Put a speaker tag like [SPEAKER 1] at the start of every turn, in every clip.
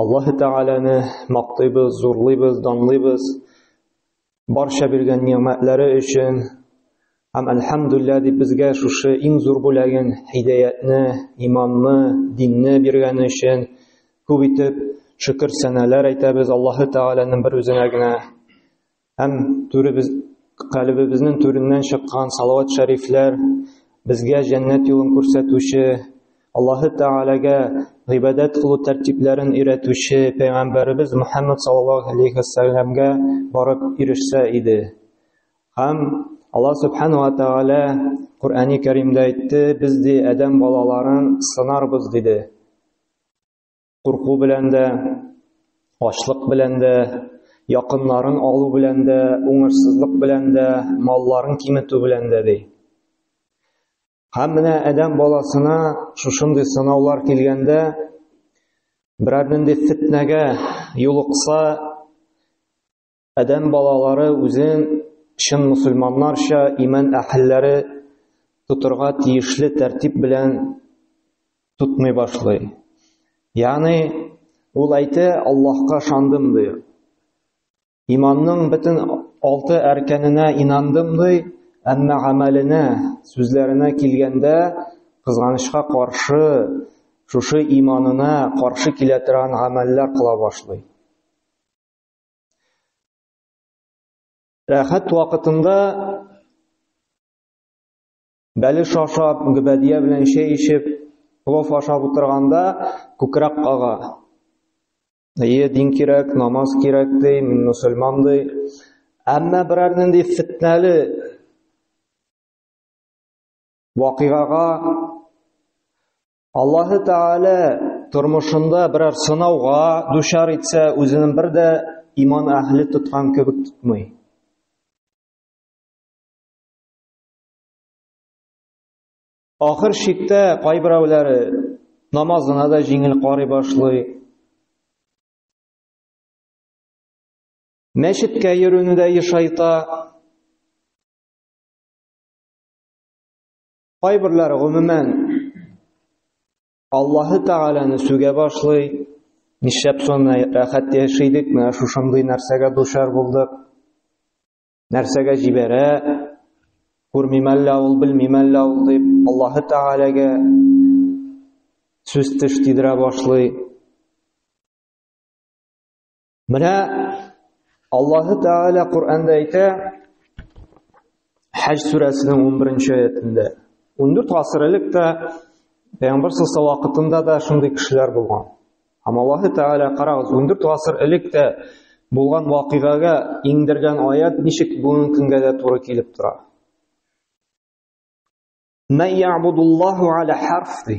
[SPEAKER 1] Аллаһы Тәгаләне мактыйбыз, зурлыйбыз, данлыйбыз. Барча биргән нигъмәтләре өчен һәм әлхәмдүлилләһ дип безгә шушы иң зур бүләген, һидаятны, иманны, динне биргәне өчен күп итеп шөкер сәнәләр әйтәбез Аллаһы Тәгаләнең бер үзенә генә. Һәм түребез калебебезнең түреннән чыккан салават шәрифләр безгә җәннәт юлын күрсәтүче, Аллаһы Тәгаләгә гыйбадәт кылу тәртипләрен өйрәтүче пәйгамбәребез Мөхәммәд саллаллаһу алейхи ва сәлламгә барып ирешсә иде. Һәм Аллаһ субхану ва тәгалә Куръани Кәримдә әйтте, без ди Адәм балаларын сынарбыз диде. курку белән дә, ачлык белән дә, якыннарын алу белән дә, уңышсызлык белән дә, малларын киметү белән дә ди. Һәм менә адәм баласына шушындый сынаулар килгәндә, берәр нинди фитнәгә юлыкса, Адәм балалары үзен чын мусульманнарча иман әһелләре тотырга тиешле тәртип белән тотмый башлый. Ягъни ул әйтә, Аллаһка шандым ди. Иманның бөтен алты әркәненә инандым ди, әмма гамәленә, сүзләренә килгәндә, кызганычка каршы, шушы иманына каршы килә торган гамәлләр кыла башлый. Рәхәт вакытында бәле шашап, гөбәдия белән чәй ишеп, плов ашап утырганда күкрәк кага. Әйе, дин кирәк, намаз кирәк ди, мин мусульман ди. Әмма берәр нинди фитнәле вакыйгага Аллаһы Тәгалә тормышында берәр сынауга дучар итсә, үзенең бер дә иман әһле тоткан кебек тотмый. Ахыр шиктә кайберәүләре намазына да җиңел карый башлый. Мәчеткә йөрүне дә ешайта. Кайберләр гомумән Аллаһы Тәгаләне сүгә башлый, нишләп соны рәхәт яши идек, менә шушындый нәрсәгә дучар булдык, нәрсәгә җибәрә, күрмим әллә ул, белмим әллә ул дип, Аллаһы Тәгаләгә сүз теш тидерә башлый. Менә Аллаһ Тәгалә Коръәндә әйтә, Хаҗ сүрәсенең 11-нче аятында. 14 гасыр элек тә Пәйгамбер саллаллаху вакытында да шундый кешеләр булган. Һәм Аллаһ Тәгалә карагыз, 14 гасыр элек тә булган вакыйгага иңдергән аят ничек бүгенге көнгә дә туры килеп тора. Мәйябудуллаху аля харфи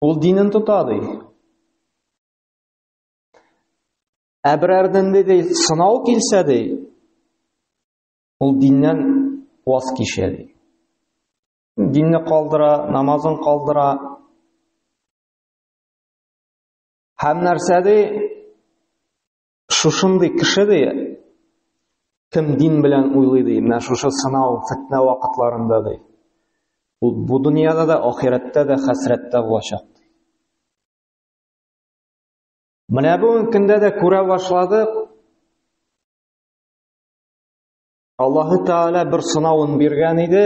[SPEAKER 1] Ул динен тота, ди. Ә берәрдән ди, сынау килсә, ди, ул диннән ваз кичә, ди. Динне калдыра, намазын калдыра. Һәм нәрсә ди? Шушындый кеше ди, кем дин белән уйлый ди, менә шушы сынау, фетнә вакытларында ди. Ул бу дөньяда да, ахирәттә дә, хәсрәттә булачак. Менә бүгенге көндә дә күрә башладык. Аллаһы Тәгалә бер сынавын биргән иде.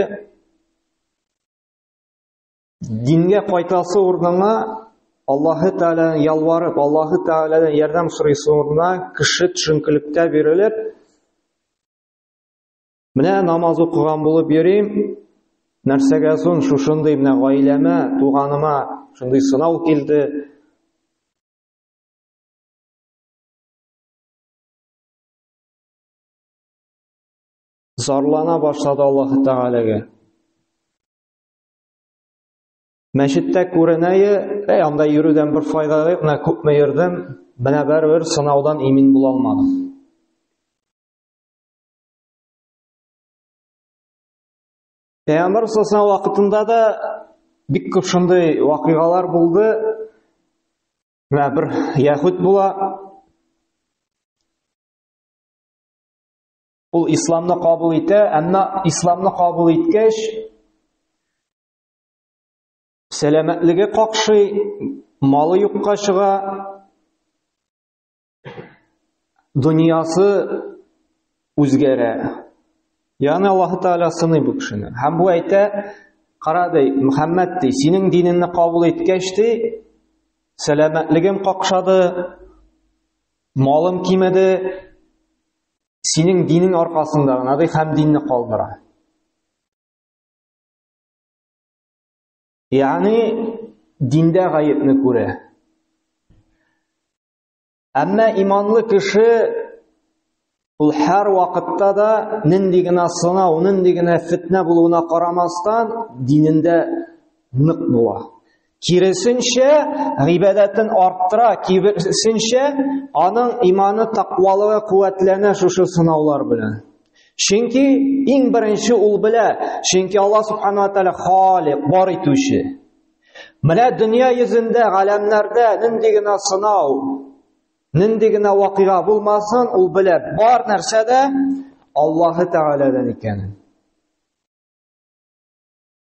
[SPEAKER 1] Дингә кайтасы урынына Аллаһы Тәгаләдән ялварып, Аллаһы Тәгаләдән ярдәм сорыйсы урынына кеше төшенкелектә бирелеп, менә намаз укыган булып йөрим, нәрсәгә соң шушындый менә гаиләмә, туганыма шундый сынау килде. Зарлана башлады Аллаһы Тәгаләгә. Мәчеттә күренәе, әй, анда йөрүдән бер файда юк, менә күпме йөрдем, менә бер сынаудан имин була алмадым. Пәйгамбәр саллаллаху вакытында да бик күп шундый вакыйгалар булды. Менә бер яһүд була. Ул исламны кабул итә, әмма исламны кабул иткәч, сәламәтлеге какшый, малы юкка чыга, дөньясы үзгәрә. Ягъни Аллаһ Тәгалә сыный бу кешене. Һәм бу әйтә, кара ди, Мөхәммәд ди, синең динеңне кабул иткәч ди, сәламәтлегем какшады, малым кимеде, Синең динең аркасында гына ди һәм динне калдыра. Ягъни диндә гаепне күрә. Әмма иманлы кеше ул һәр вакытта да нинди генә сынау, нинди генә фитнә булуына карамастан, динендә нык була. Киресенчә, гыйбадәтен арттыра, киресенчә, аның иманы тақвалыгы куәтләнә шушы сынаулар белән. Чөнки иң беренче ул белә, чөнки Алла субхана ва тааля халик, бар итүче. Менә дөнья йөзендә, галәмнәрдә нинди генә сынау, нинди генә вакыйга булмасын, ул белә, бар нәрсә дә Аллаһы Тәгаләдән икәнен.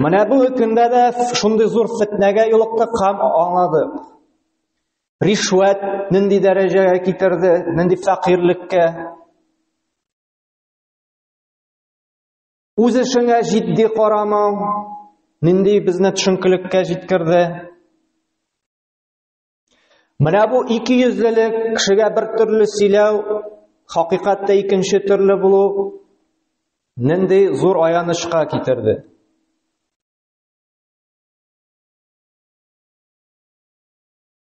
[SPEAKER 1] Менә бу көндә дә шундый зур фетнәгә юлыктык һәм аңлады. Ришвәт нинди дәрәҗәгә китерде, нинди фәкыйрьлеккә. Үз эшеңә җитди карамау нинди безне төшенкелеккә җиткерде. Менә бу ике йөзлелек, кешегә бер төрле сөйләү, хакыйкатьтә икенче төрле булу нинди зур аянычка китерде.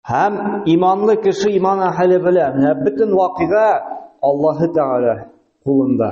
[SPEAKER 1] Һәм иманлы кеше иман әһеле белән, менә бөтен вакыйга Аллаһы Тәгалә кулында.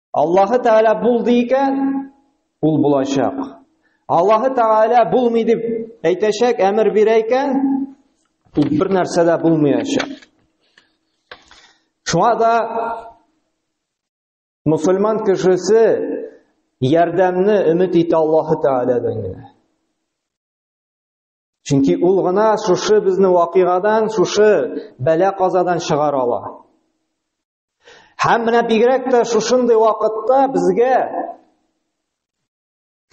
[SPEAKER 1] Аллаһы Тәгалә булды икән, ул булачак. Аллаһы Тәгалә булмый дип әйтәчәк, әмер бирә икән, ул бер нәрсә дә булмаячак. Шуңа да мусульман кешесе ярдәмне өмет итә Аллаһы Тәгаләдән генә. Чөнки ул гына шушы безне вакыйгадан, шушы бәла казадан чыгара ала. Һәм менә бигрәк тә шушындый вакытта безгә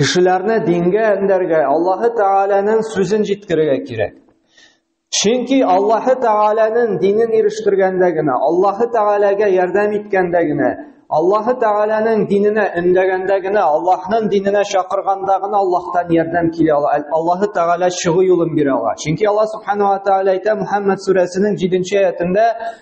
[SPEAKER 1] кешеләрне дингә әндәргә, Аллаһы Тәгаләнең сүзен җиткерергә кирәк. Чөнки Аллаһы Тәгаләнең динен ирештергәндә генә, Аллаһы Тәгаләгә ярдәм иткәндә генә, Аллаһы Тәгаләнең диненә өндәгәндә генә, Аллаһның диненә чакырганда гына Аллаһтан ярдәм килә ала. Аллаһы Тәгалә чыгу юлын бирә ала. Чөнки Аллаһ Субхану ва Тәгалә әйтә Мухаммад сүрәсенең 7 нче аятында,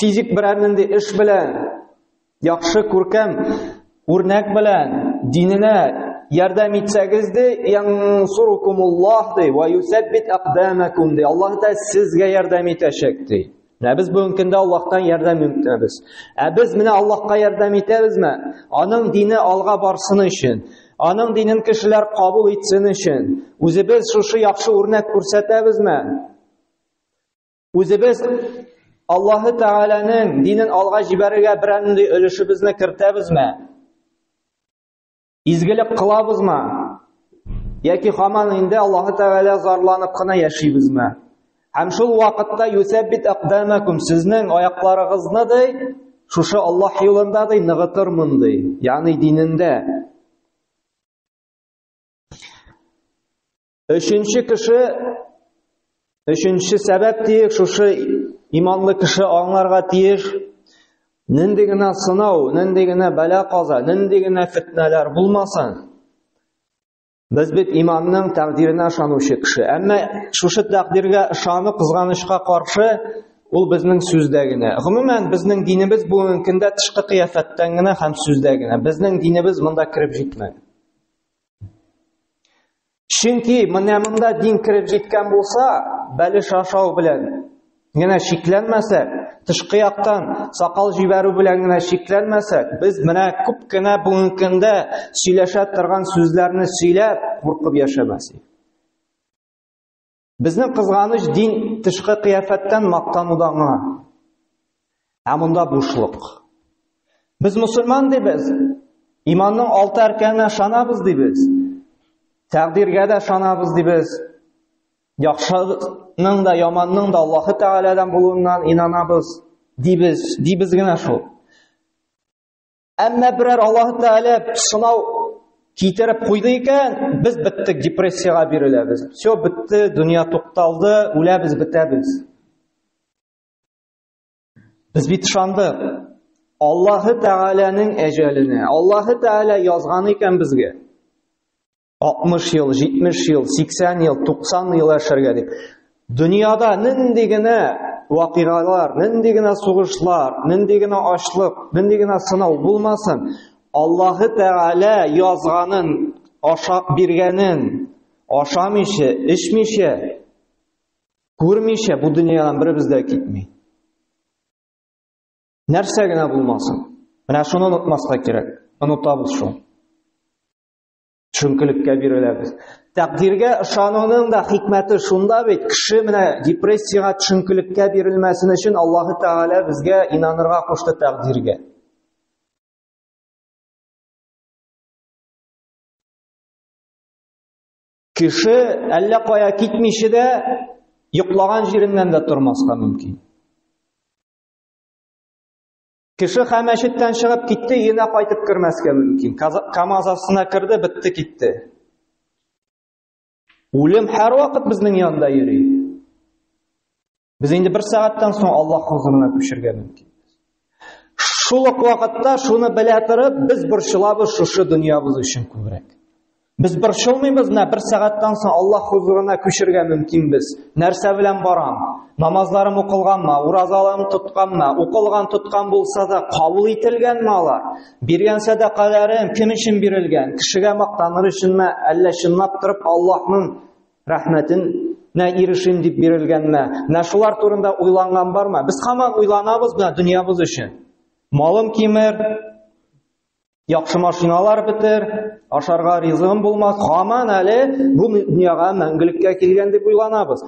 [SPEAKER 1] физик берәр нинди эш белән, яхшы күркәм үрнәк белән диненә ярдәм итсәгез ди, янсурукумуллах ди, ва юсәббит акдамакум ди. Аллаһ та сезгә ярдәм итәчәк ди. Менә без бүгенге көндә Аллаһтан ярдәм үтәбез. Ә без менә Аллаһка ярдәм итәбезме? Аның дине алга барсын өчен, аның динен кешеләр кабул итсен өчен, үзебез шушы яхшы үрнәк күрсәтәбезме? Үзебез Аллаһы Тәгаләнең динен алга җибәрергә берәндәй өлешебезне кертәбезме? Изгелек кылабызмы? Яки хаман инде Аллаһы Тәгалә зарланып кына яшибезме? Һәм шул вакытта юсәббит aqdamakum сезнең аякларыгызны ди, шушы Аллаһ юлында ди ныгытырмын ди, ягъни динендә. Өченче кеше Өченче сәбәп тиеш шушы иманлы кеше аңларга тиеш. Нинди генә сынау, нинди генә бәла каза, нинди генә фитнәләр булмасын. Без бит иманның тәкъдиренә ышанучы кеше. Әмма шушы тәкъдиргә ышану кызганычка каршы ул безнең сүздә генә. Гомумән безнең динебез бүгенге көндә тышкы кыяфәттән генә һәм сүздә генә. Безнең динебез монда кереп җитмәгән. Чөнки менә монда дин кереп җиткән булса, бәлеш ашау белән генә шикләнмәсәк, тышкы яктан сакал җибәрү белән генә шикләнмәсәк, без менә күп кенә бүгенге көндә сөйләшә торган сүзләрне сөйләп куркып яшәмәсек. Безнең кызганыч дин тышкы кыяфәттән мактануда гына. Ә монда бушлык. Без мусульман дибез. Иманның алты арканына шанабыз дибез. Тәкъдиргә дә шанабыз дибез. Яхшының да, яманның да Аллаһы Тәгаләдән булуыннан инанабыз дибез, дибез генә шул. Әмма берәр Аллаһ Тәгалә сынау китереп куйды икән, без биттек, депрессиягә биреләбез. Все битте, дөнья тукталды, үләбез, бетәбез. Без бит ышандык. Аллаһы Тәгаләнең әҗәленә. Аллаһы Тәгалә язган икән безгә. 60 ел, 70 ел, 80 ел, 90 ел яшәргә дип. Дөньяда нинди генә вакыйгалар, нинди генә сугышлар, нинди генә ачлык, нинди генә сынау булмасын, Аллаһы Тәгалә язганын, ашап биргәнен, ашамыйча, эчмичә, күрмичә бу дөньядан беребез дә китми. Нәрсә генә булмасын. Менә шуны онытмаска кирәк. Онытабыз шул. Төшенкелеккә биреләбез. Тәкъдиргә ышануның да хикмәте шунда бит, кеше менә депрессиягә төшенкелеккә бирелмәсен өчен Аллаһы Тәгалә безгә инанырга кушты тәкъдиргә. Кеше әллә кая китмичә дә йоклаган җиреннән дә тормаска мөмкин. Кеше мәчеттән чыгып китте, өенә кайтып кермәскә мөмкин. КАМАЗ астына керде, бетте китте. Үлем һәр вакыт безнең янда йөри. Без инде бер сәгатьтән соң Аллаһ хузурына күчергә мөмкин. Шул ук вакытта шуны белә торып, без борчылабыз шушы дөньябыз өчен күбрәк. Без борчылмыйбыз, менә бер сәгатьтән соң Аллаһ хузурына күчергә мөмкинбез. Нәрсә белән барам? Намазларым укылганмы, уразаларым тотканмы, укылган тоткан булса да кабул ителгәнме алар? Биргән сәдакаларым кем өчен бирелгән? Кешегә мактаныр өченме, әллә чынлап торып Аллаһның рәхмәтен нә ирешим дип бирелгәнме? Менә шулар турында уйланган бармы? Без хаман уйланабыз менә дөньябыз өчен. Малым кимер, Яхшы машиналар бетер, ашарга ризыгым булмас. Хаман әле бу дөньяга мәңгелеккә килгән дип уйланабыз.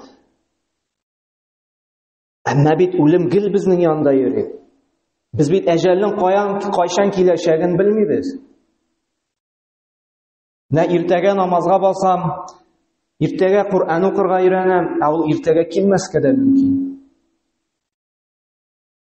[SPEAKER 1] Әмма бит үлем гел безнең янында йөри. Без бит әҗәлнең каян кайчан киләчәген белмибез. Нә иртәгә намазга басам, иртәгә Коръән укырга өйрәнәм, ә ул иртәгә килмәскә дә мөмкин.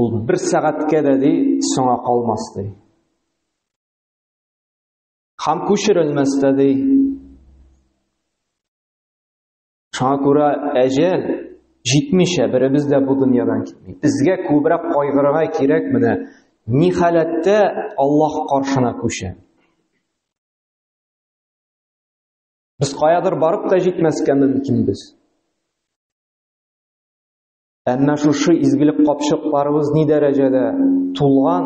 [SPEAKER 1] Ул бер сәгатькә дә ди соңа калмас ди. Хам күчерелмәс тә ди. Шуңа күрә әҗәл җитмичә беребез дә бу дөньядан китми. Безгә күбрәк кайгырырга кирәк менә ни халәттә Аллаһ каршына күчә. Без каядыр барып та җитмәскә мөмкинбез. Әмма шушы изгелек капчыкларыбыз ни дәрәҗәдә тулган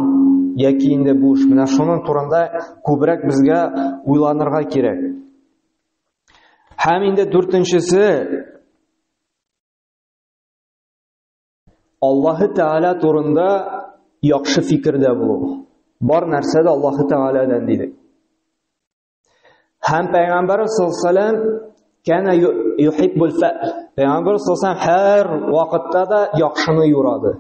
[SPEAKER 1] яки инде буш? Менә шуның турында күбрәк безгә уйланырга кирәк. Һәм инде дүртенчесе Аллаһы Тәгалә турында яхшы фикердә булу. Бар нәрсә дә Аллаһы Тәгаләдән дидек. Һәм пәйгамбәр саллаллаһу кәнә юхиббул фә. Пәйгамбәр саллаллаһу һәр вакытта да яхшыны юрады.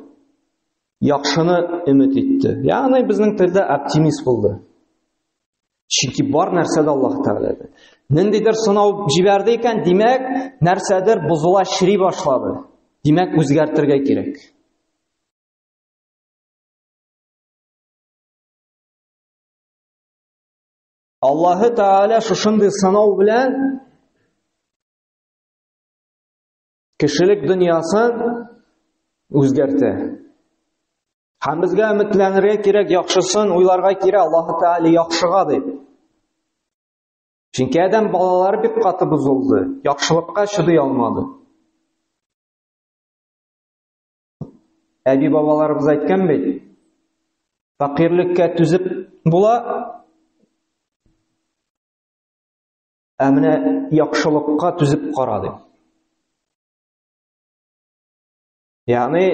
[SPEAKER 1] Яхшыны өмет итте. Ягъни безнең телдә оптимист булды. Чөнки бар нәрсә дә Аллаһ Тәгаләдә. Ниндидер сынау җибәрде икән, димәк, нәрсәдер бозыла, чри башлады. Димәк, үзгәртергә кирәк. Аллаһы Тәгалә шушындый сынау белән кешелек дөньясын үзгәртә. Һәм безгә өметләнергә кирәк, яхшысын уйларга кирәк, Аллаһы Тәгалә яхшыга дип. Чөнки адәм балалары бик каты бозылды, яхшылыкка чыдый алмады. Әби-бабаларыбыз әйткән бит, факирлеккә түзеп була, ә менә яхшылыкка түзеп кара дип. Ягъни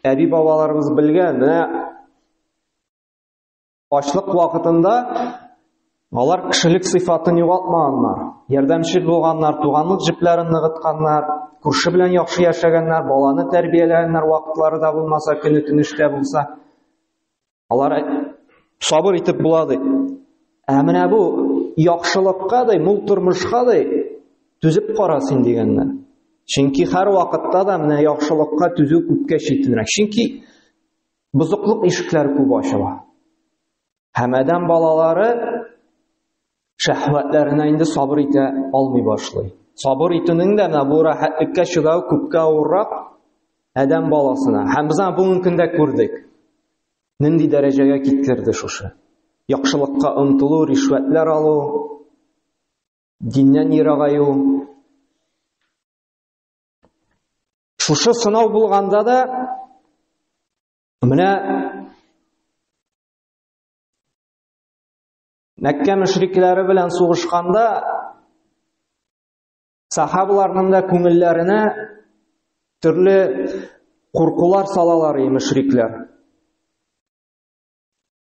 [SPEAKER 1] әби-бабаларыбыз белгән, менә Ачлык вакытында алар кешелек сыйфатын югалтмаганнар. Ярдәмче булганнар, туганлык җепләрен ныгытканнар, күрше белән яхшы яшәгәннәр, баланы тәрбияләгәннәр вакытлары да булмаса, көне тыныштә булса. Алар сабыр итеп була ди. Ә менә бу яхшылыкка да, мул тормышка да түзеп кара син дигәннәр. Чөнки һәр вакытта да менә яхшылыкка түзү күпкә читенрәк. Чөнки бозыклык ишекләр күп ачыла. Һәм адәм балалары шәһвәтләренә инде сабыр итә алмый башлый. Сабыр итүнең дә менә бу рәхәтлеккә чыдау күпкә авыррак адәм баласына. Һәм без аны бүгенге көндә күрдек. Нинди дәрәҗәгә киткерде шушы? Яхшылыкка омтылу, ришвәтләр алу, диннән ерагаю, Шушы сынау булганда да менә Мәккә мөшрикләре белән сугышканда сахабаларның да күңелләренә төрле куркулар салалар и мөшрикләр.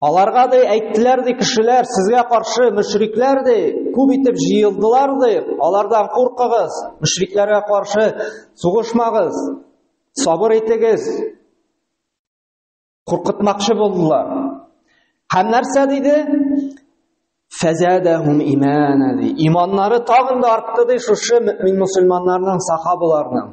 [SPEAKER 1] Аларга ди әйттеләр ди кешеләр сезгә каршы мөшрикләр ди күп итеп җыелдылар ди алардан куркыгыз мөшрикләргә каршы сугышмагыз сабыр итегез куркытмакчы булдылар һәм нәрсә диде фәзәдәһум имана ди иманнары тагын да артты ди шушы мөмин мусульманнарның сахабаларның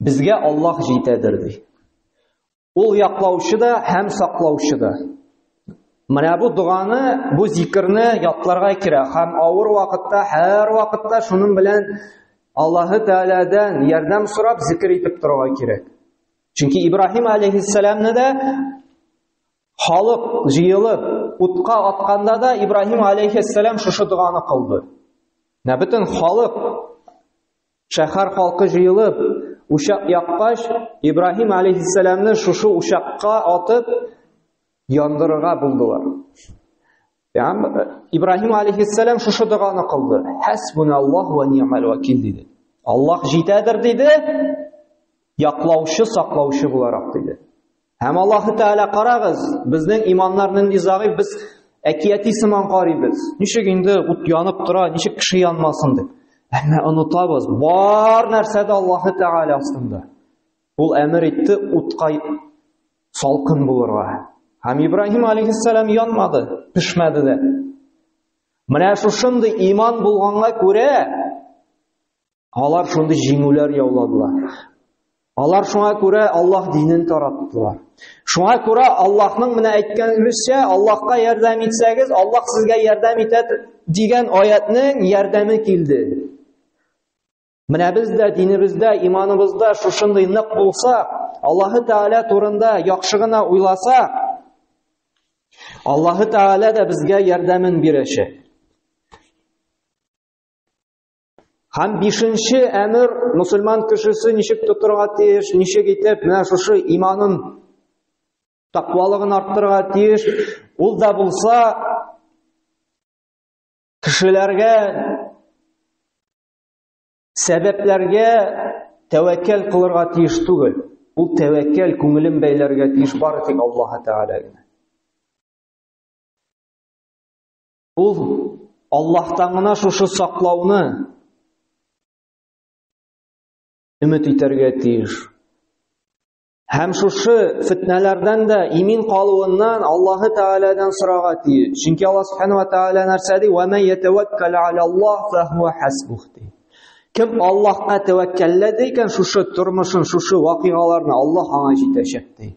[SPEAKER 1] Безгә Аллаһ җитәдер ди. Ул яклаучы да һәм саклаучы да. Менә бу доганы, бу зикрне ятларга кирәк һәм авыр вакытта, һәр вакытта шуның белән Аллаһы Тәгаләдән ярдәм сорап зикр итеп торырга кирәк. Чөнки Ибраһим алейхиссаламны да халык җыелып утка атканда да Ибраһим алейхиссалам шушы доганы кылды. Менә бөтен халык Шәһәр халкы җыелып, учак яккач, Ибраһим алейхиссәламне шушы учакка атып яндырырга булдылар. Ям Ибраһим алейхиссәлам шушы доганы кылды. Хәсбуналлаһу ва ни'мал вакил диде. Аллаһ җитәдер диде. Яклаучы, саклаучы буларак диде. Һәм Аллаһы Тәгалә карагыз, безнең иманнар нинди загыйф, без әкияти сыман карыйбыз. Ничек инде ут янып тора, ничек кеше янмасын дип. Әмма онытабыз, бар нәрсә дә Аллаһы Тәгалә астында. Ул әмер итте утка салкын булырга. Һәм Ибраһим алейхиссалам янмады, пешмәде дә. Менә шушындый иман булганга күрә Алар шундый җиңүләр яуладылар. Алар шуңа күрә Аллаһ динен тараттылар. Шуңа күрә Аллаһның менә әйткән русча, Аллаһка ярдәм итсәгез, Аллаһ сезгә ярдәм итә дигән аятның ярдәме килде. Менә без дә динебездә, иманыбызда шушындый нык булса, Аллаһы Тәгалә турында яхшы гына уйласа, Аллаһы Тәгалә дә безгә ярдәмен бирәчәк. Һәм бишенче әмер мусульман кешесе ничек тотырга тиеш, ничек итеп менә шушы иманын тақвалыгын арттырырга тиеш. Ул да булса кешеләргә сәбәпләргә тәвәккәл кылырга тиеш түгел. Ул тәвәккәл күңелен бәйләргә тиеш бары тик Аллаһ Тәгаләгә. Ул Аллаһтан гына шушы саклауны өмет итәргә тиеш. Һәм шушы фитнәләрдән дә имин калуыннан Аллаһ Тәгаләдән сорарга тиеш. Чөнки Аллаһ Субхану ва Тәгалә нәрсә ди? "Ва ман ятаваккал аля Аллаһ фа хуа хасбух" ди. Кем Аллаһка тәвәккәлләде икән, шушы тормышын, шушы вакыйгаларны Аллаһ аңа җитәчәк ди.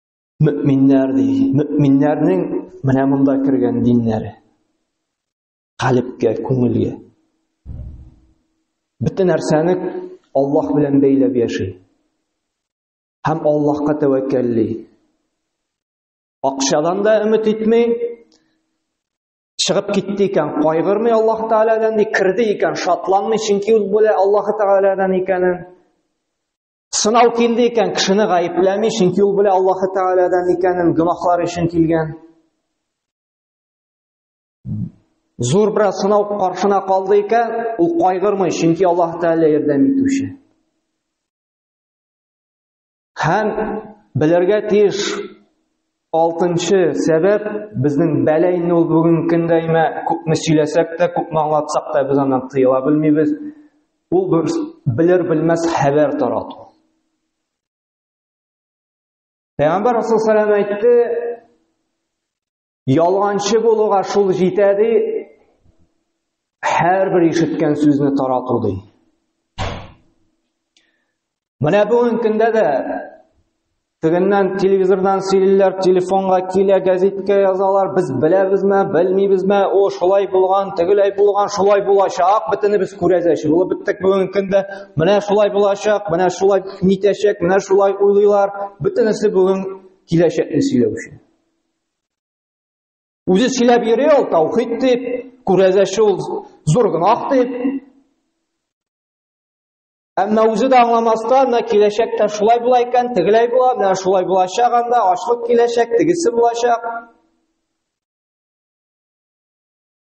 [SPEAKER 1] мөэминнәр ди мөэминнәрнең менә монда кергән диннәре калебкә күңелгә бөтен нәрсәне аллаһ белән бәйләп яши һәм аллаһка тәвәккәлли акчадан да өмет итми чыгып китте икән кайгырмый аллаһ тәгаләдән ди керде икән шатланмый чөнки ул белә аллаһ тәгаләдән икәнен Сынау килде икән, кешене гаепләми, чөнки ул белә Аллаһ Тәгаләдән икәнен, гөнаһлар өчен килгән. Зур бер сынау каршына калды икән, ул кайгырмый, чөнки Аллаһ Тәгалә ярдәм итүче. Һәм белергә тиеш, Алтынчы сәбәп безнең бәла инде ул бүгенге көндә имә күпме сөйләсәк тә, күпме аңлатсак та без аннан тыела белмибез. Ул бер белер белмәс хәбәр тарату. Пәйгамбәр Расул саллаллаху алейһи әйтте, ялганчы булуга шул җитә ди, һәрбер ишеткән сүзне тарату ди. Менә бүгін көндә дә тегеннән телевизордан сөйлиләр, телефонга килә, газетка язалар, без беләбезме, белмибезме, о, шулай булган, тегеләй булган, шулай булачак, бөтенебез күрәзәч булып беттек бүгенге көндә. Менә шулай булачак, менә шулай нитәчәк, менә шулай уйлыйлар. Бөтенесе бүген киләчәкне сөйләү өчен. Үзе сөйләп йөри ул таухид дип, күрәзәче ул зур гынах дип, Әмма үзе дә аңламастан, менә киләчәктә шулай була икән, тегеләй була, менә шулай булачак анда, ачлык киләчәк, тегесе булачак.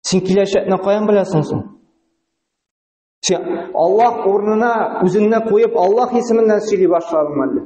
[SPEAKER 1] Син киләчәкне каян беләсең соң? Син Аллаһ урынына үзеңне куеп, Аллаһ исеменнән сөйли башладыңмы әллә?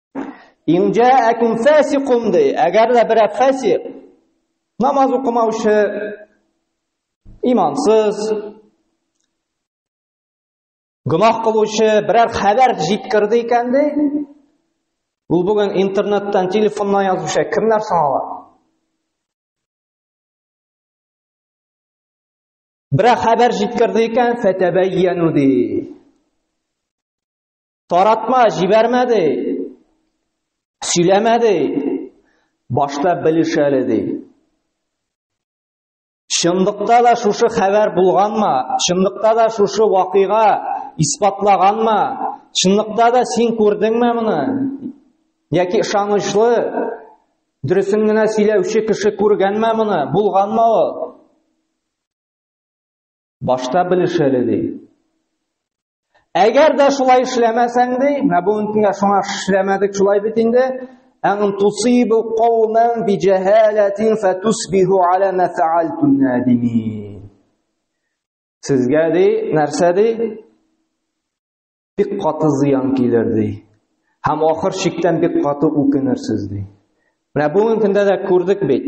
[SPEAKER 1] Инҗә әкүм фәсикум ди. Әгәр дә берәр фәсик намаз укымаучы имансыз гөнаһ кылучы берәр хәбәр җиткерде икән ди. Ул бүген интернеттан, телефоннан язучы кемнәр соң алар? Берәр хәбәр җиткерде икән, фәтәбәйяну ди. Таратма җибәрмәде. Сөйләмәде. Башта белешәле ди. Чынлыкта да шушы хәбәр булганмы? Чынлыкта да шушы вакыйга исбатлаганмы? Чынлыкта да син күрдеңме моны? Яки ышанычлы дөресен генә сөйләүче кеше күргәнме моны? Булганмы ул? Башта белеш әле ди. Әгәр дә шулай эшләмәсәң ди, менә бүген көнгә шуңа эшләмәдек шулай бит инде. Ән тусибу каумен би җәһалатин фатусбиху ала ма фаалтум надимин. Сезгә ди, нәрсә ди? Бик каты зыян килер ди. Һәм ахыр чиктән бик каты үкенерсез ди. Менә бүген көндә дә күрдек бит.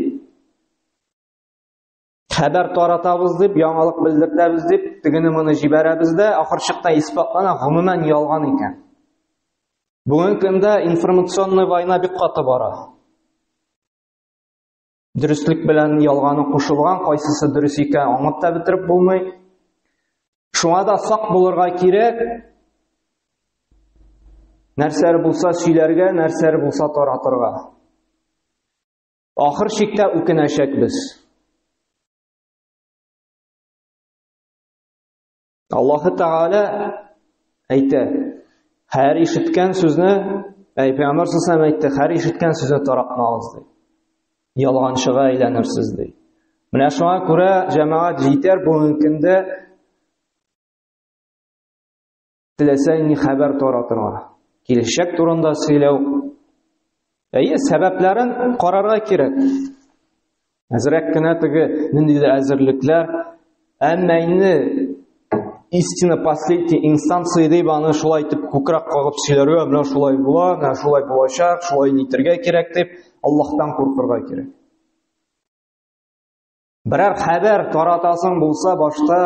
[SPEAKER 1] Хәбәр таратабыз дип, яңалык белдертәбез дип, тегене моны җибәрәбез дә, ахыр чыкта исбатлана, гомумән ялган икән. Бүгенге көндә информационный война бик каты бара. Дөреслек белән ялганы кушылган, кайсысы дөрес икән, аңлап та бетереп булмый. Шуңа да сак булырга кирәк, нәрсәләр булса сөйләргә, нәрсәләр булса таратырга. Ахыр чиктә үкенәчәкбез. Аллаһы Тәгалә әйтә, һәр ишеткән сүзне, әй Пәйгамбәр саллаллаһу әйтте, һәр ишеткән сүзне таратмагыз ди. Ялганчыга әйләнерсез ди. Менә шуңа күрә җәмәгать җитәр бүгенге көндә теләсә ни хәбәр таратырга, килешәк турында сөйләү. Әйе, сәбәпләрен карарга кирәк. Әзрәк кенә теге ниндидер әзерлекләр, әмма инде истина последний инстанция дип аны шулай итеп күкрәк кагып сөйләргә, менә шулай була, менә шулай булачак, шулай нитергә кирәк дип Аллаһтан куркырга кирәк. Берәр хәбәр таратасың булса, башта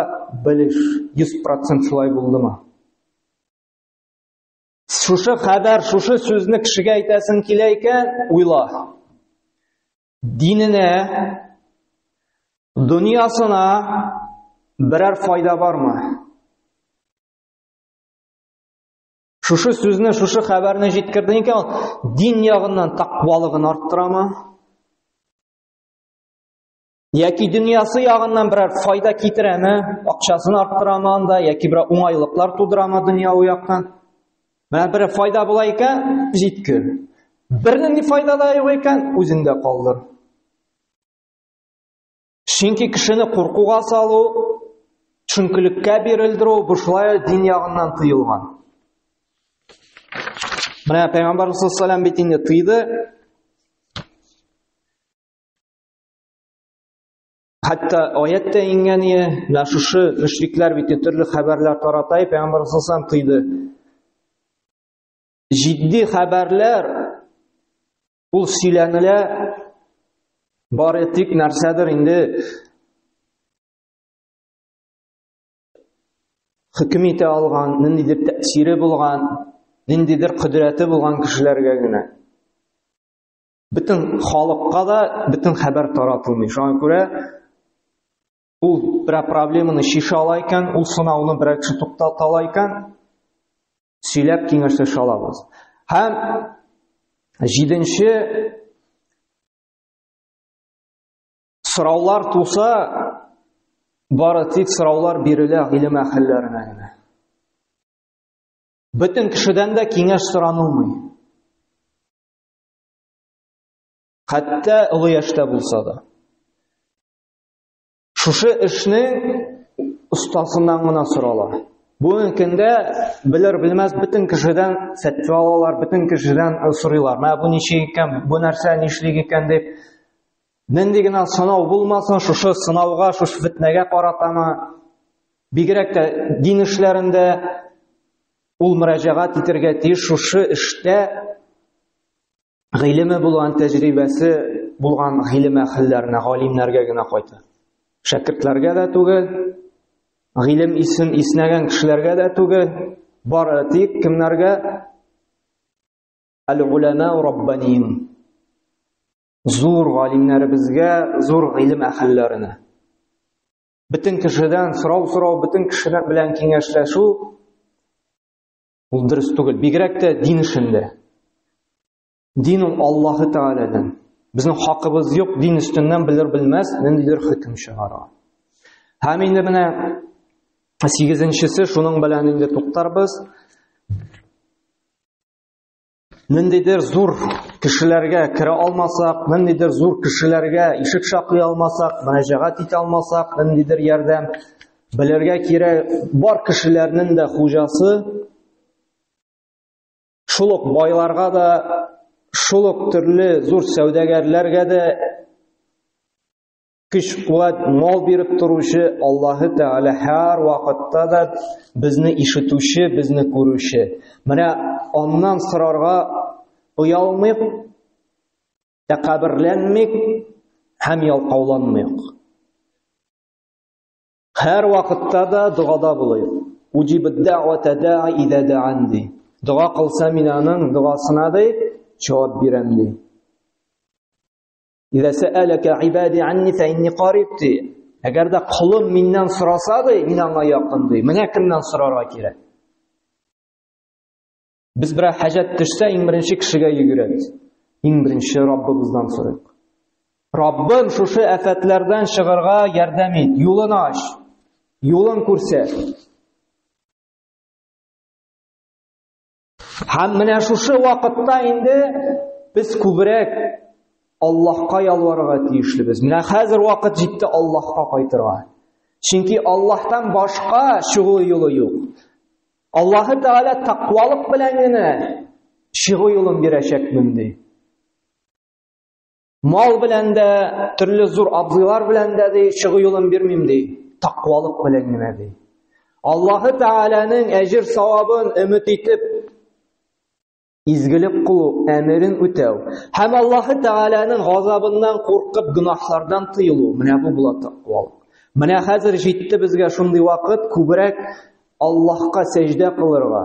[SPEAKER 1] белеш, 100% шулай булдымы? Шушы хәбәр, шушы сүзне кешегә әйтәсең килә икән, уйла. Диненә, дөньясына берәр файда бармы? Шушы сүзне, шушы хәбәрне җиткердең икән, дин ягыннан тақвалыгын арттырамы? Яки дөньясы ягыннан берәр файда китерәме, акчасын арттырамы анда, яки берәр уңайлыклар тудырамы дөньяви яктан? Менә бер файда була икән, җиткер. Бернинди файда да юк икән, үзендә калдыр. Чөнки кешене куркуга салу, төшенкелеккә бирелдерү бу шулай дин ягыннан тыелган. Менә Пәйгамбар саллаллаху алейһи ва бит инде тыйды, Хәтта аят та иңгәне, менә шушы мөшрикләр бит төрле хәбәрләр тарата, пәйгамбәр саллаллаху тыйды. Җитди хәбәрләр ул сөйләнелә бары тик нәрсәдер инде хөкем итә алган, ниндидер тәэсире булган, ниндидер кодрәте булган кешеләргә генә. Бөтен халыкка да бөтен хәбәр таратылмый. Шуңа күрә ул берәр проблеманы шиша ала икән, ул сынауны берәр кеше туктата ала икән, сөйләп киңәшләшә алабыз. Һәм җиденче сораулар туса, бары тик сораулар бирелә гыйлем әһелләренә генә. Бөтен кешедән дә киңәш соранылмый. хәтта олы яшьтә булса да шушы эшне остасыннан гына сорала Бүгенге көндә белер белмәс бөтен кешедән сәтте алалар, бөтен кешедән э, сорыйлар. Мә бу ничек икән, бу нәрсә нишлек икән дип. Нинди генә сынау булмасын, шушы сынауга, шушы фитнәгә каратамы? Бигрәк тә дин эшләрендә Ул мөрәҗәгать итәргә тиеш шушы эштә гыйлеме булган, тәҗрибәсе булган гыйлем әһелләренә, галимнәргә генә кайта. Шәкертләргә дә түгел, гыйлем исен иснәгән кешеләргә дә түгел, бары тик кемнәргә? Әл-Уляна Раббанин. Зур галимнәребезгә, зур гыйлем әһелләренә. Бөтен кешедән сорау сорау, бөтен кешедән белән киңәшләшү ул дөрес түгел. Бигрәк тә дин эшендә. Дин ул Аллаһы Тәгаләдән. Безнең хакыбыз юк, дин өстеннән белер белмәс, ниндидер хөкем чыгара. Һәм инде менә сигезенчесе шуның белән инде туктарбыз. ниндидер зур кешеләргә керә алмасак, ниндидер зур кешеләргә ишек шакый алмасак, мөрәҗәгать итә алмасак, ниндидер ярдәм белергә кирәк, бар кешеләрнең дә хуҗасы шул ук байларга да, шул ук төрле зур сәүдәгәрләргә дә көч-куәт, мал биреп торучы Аллаһы Тәгалә һәр вакытта да безне ишетүче, безне күрүче. Менә аннан сорарга оялмыйк, тәкәберләнмик һәм ялкауланмыйк. Һәр вакытта да догада булыйк. Уҗибед дәгъвата даи идә дәан ди. Дога кылса мин аның догасына ди, җавап бирәм ди. Ида сәәләкә ибади анни фә инни кариб ди. Әгәр дә кулым миннән сораса ди, мин аңа якын ди. Менә кемнән сорарга кирәк. Без бер хаҗат төшсә, иң беренче кешегә йөгерәбез. Иң беренче Раббыбыздан сорыйк. Раббым, шушы афәтләрдән чыгарга ярдәм ит, юлын ач, юлын күрсәт. Һәм менә шушы вакытта инде без күбрәк Аллаһка ялварырга тиешлебез. Менә хәзер вакыт җитте Аллаһка кайтырга. Чөнки Аллаһтан башка чыгу юлы юк. Аллаһы Тәгалә тақвалык белән генә чыгу юлын бирәчәкмен ди. Мал белән дә, төрле зур абзыйлар белән дә ди, чыгу юлын бирмим ди. Тақвалык белән генә ди. Аллаһы Тәгаләнең әҗир савабын өмет итеп изгелек кылу, әмерен үтәү һәм Аллаһы Тәгаләнең газабыннан куркып гөнаһлардан тыелу. Менә бу була тақвалык. Менә хәзер җитте безгә шундый вакыт күбрәк Аллаһка сәҗдә кылырга.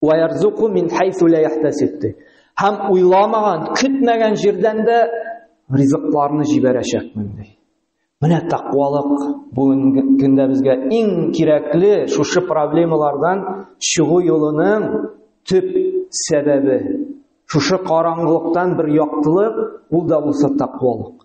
[SPEAKER 1] Ва ярзуку мин хайсу ла яхтасиб ди. Һәм уйламаган, көтмәгән җирдән дә ризыкларны җибәрәчәкмен ди. Менә тақвалык бүгенге көндә безгә иң кирәкле шушы проблемалардан чыгу юлының төп сәбәбе. Шушы караңгылыктан бер яктылык, ул да булса тақвалык.